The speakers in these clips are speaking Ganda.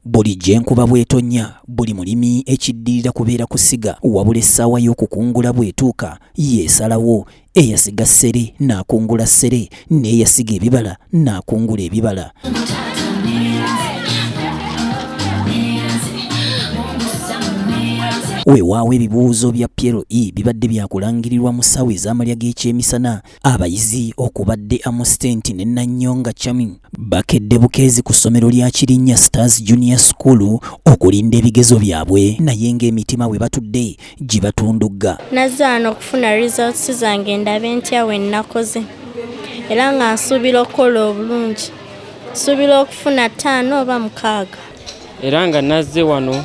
Buli gy'enkuba bw'etonnya, buli mulimi ekiddirira kubeera kusiga wabula essaawa y'okukungula bw'etuuka y'esalawo, eyasiga ssere n'akungula ssere n'eyasiga ebibala n'akungula ebibala. Weewaawo ebibuuzo bya PLE bibadde byakulangirirwa mu ssaawa ez'amalya g'ekyemisana Abayizi okubadde Amusitenti ne Nanyonga Chami bakedde bukeezi ku ssomero lya Kirinnya Stars Junior School okulinda ebigezo byabwe naye ng'emitima we batudde gibatundugga. Nazze wano okufuna results zange ndabe ntya we nnakoze era nga nsuubira okukola obulungi. Nsuubira okufuna ttaano oba mukaaga. Era nga nazze wano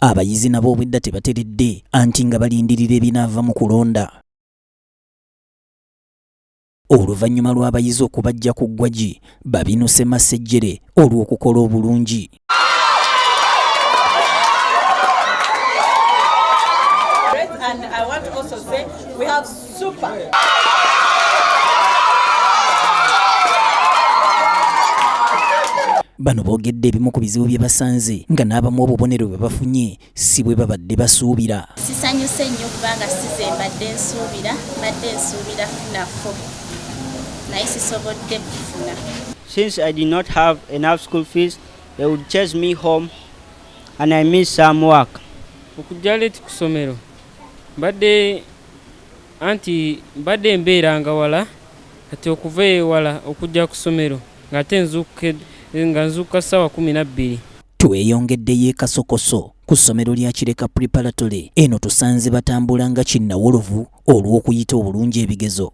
Abayizi nabo obwedda tebateredde anti nga balindirira ebinaava mu kulonda. Oluvannyuma lw'abayizi okubajja ku ggwagi, babinuse masejjere olw'okukola obulungi. Super. Bano boogedde ebimu ku bizibu bye basanze nga n'abamu obubonero bwe bafunye si bwe babadde basuubira. Sisanyuse nnyo kubanga size mbadde nsuubira mbadde nsuubira funafo naye sisobodde kufuna. Since I did not have enough school fees, they would chase me home and I miss some work. Okujja leeti ku ssomero mbadde Anti mbadde mbeeranga wala kati okuva ewala okujja ku ssomero ng'ate nga nzuukuka ssaawa kkumi na bbiri. Tweyongeddeyo e Kasokoso ku ssomero lya Kireka Preparatory. Eno tusanze batambula nga kinnawolovu olw'okuyita obulungi ebigezo.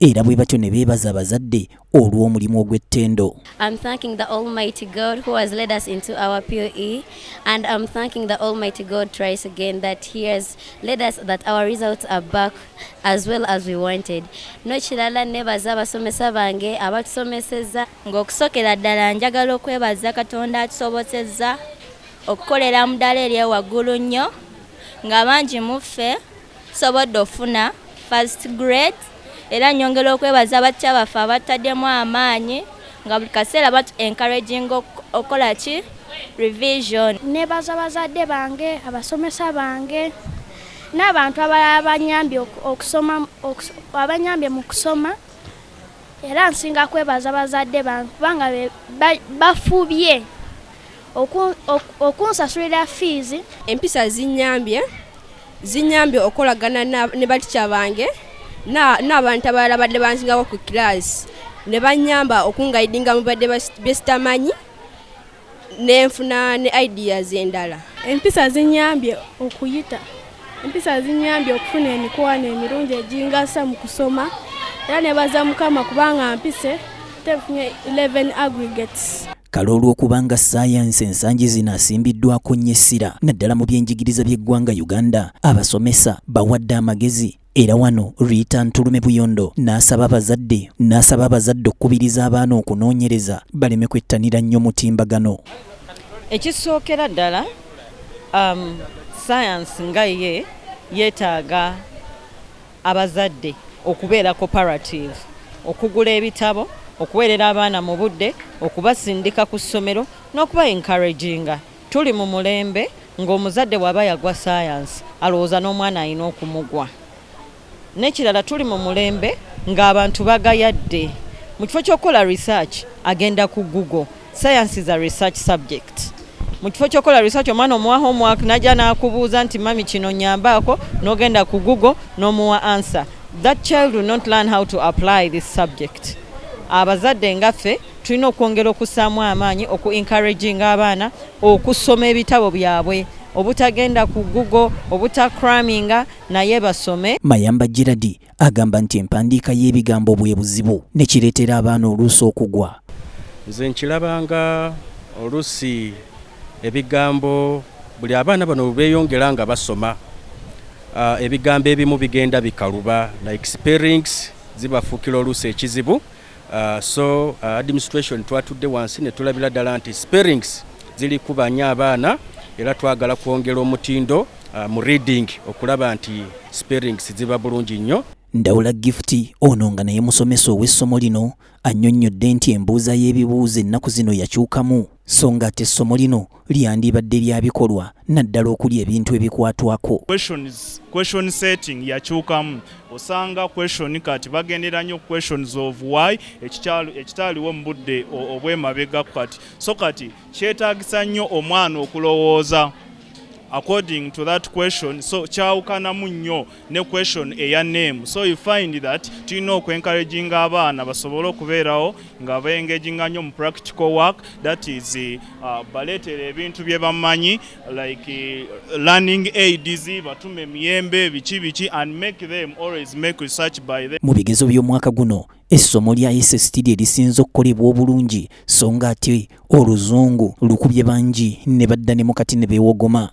era bwe batyo ne beebaza abazadde olw'omulimu ogw'ettendo I'm thanking the almighty God who has led us into our POE and I'm thanking the almighty God twice again that he has led us that our results are back as well as we wanted n'ekirala nebaza abasomesa bange abatusomesezza ng'okusokera ddala njagala okwebaza katonda atusobosezza okukolera mu ddala eryewaggulu nnyo nga bangi mu ffe Nsobodde ofuna first grade era nyongera okwebaza abattya baffe abattaddemu amaanyi nga buli kaseera batu encouraging okukola ki revision. Nebaza bazadde bange, abasomesa bange n'abantu abalala abanyambye okusoma abanyambye mu kusoma era nsinga kwebaza bazadde bange kubanga bafubye okunsasulira fiizi. Empisa zinyambye Zinyambye okolagana ne batica bange n'abantu abalala badde banzingako ku kiraasi ne bannyamba okungayidinga mu badde besitamanyi nenfuna ne ideas endala. Empisa zinyambye okuyita empisa zinyambye okufuna emikwano emirungi egingasa mu kusoma era nebaza mukama kubanga mpise tefunye 11 aggregates. Kale olw'okubanga ssaayansi ensangi zino asimbiddwako nnyo essira naddala mu byenjigiriza by'eggwanga Uganda, abasomesa bawadde amagezi era wano Rita Ntulume Buyondo n'asaba abazadde n'asaba abazadde okukubiriza abaana okunoonyereza baleme kwettanira nnyo mutimbagano. Ekisookera ddala um, sayansi nga ye yeetaaga abazadde okubeera koparatiivu, okugula ebitabo, okuweerera abaana mu budde, okubasindika ku ssomero n'okuba enkaraginga. Tuli mu mulembe ng'omuzadde bw'aba yagwa sayansi alowooza n'omwana alina okumugwa. N'ekirala tuli mu mulembe ng'abantu bagayadde. Mu kifo ky'okukola research agenda ku Google. Science is a research subject. Mu kifo ky'okola research omwana omuwa homework najja n'akubuuza nti mami kino nyambaako n'ogenda ku google n'omuwa answer. That child will not learn how to apply this subject. Abazadde ngaffe tulina okwongera okussaamu amaanyi oku encouraginga abaana okusoma ebitabo byabwe obutagenda ku google obutakraminga naye basome. Mayamba Gerald Agamba nti empandiika y'ebigambo bwe buzibu ne kireetera abaana oluusi okugwa. Nze nkirabanga oluusi ebigambo buli abaana bano bwe beeyongera nga basoma uh, ebigambo ebimu bigenda bikaluba like spellings zibafuukira oluusi ekizibu Uh, so uh, administration twatudde wansi ne tulabira ddala nti sparings ziri kubanya abaana era twagala kwongera omutindo uh, mu reading okulaba nti sparings ziba bulungi nnyo ndawula gifuti ono nga naye musomesa ow'essomo lino annyonnyodde nti embuuza y'ebibuuzo ennaku zino yakyukamu so nga ate essomo lino lyandibadde lya bikolwa naddala okuli ebintu ebikwatwako question setting yakyukamu osanga question kati bagendera nnyo questions of why ekitaaliwo mu budde obwemabega kati so kati kyetaagisa nnyo omwana okulowooza according to that question so kyawukanamu nnyo ne question eya name so you find that tulina okwencouraginga abaana basobole okubeerawo nga baengaginga nnyo mu practical work that is uh, baleetera ebintu bye bamanyi like uh, learning aids batume emiyembe biki biki and make them always make research by them mu bigezo by'omwaka guno essomo lya SST lye lisinze okukolebwa obulungi so nga ate oluzungu lukubye bangi ne badda ne mukati ne beewogoma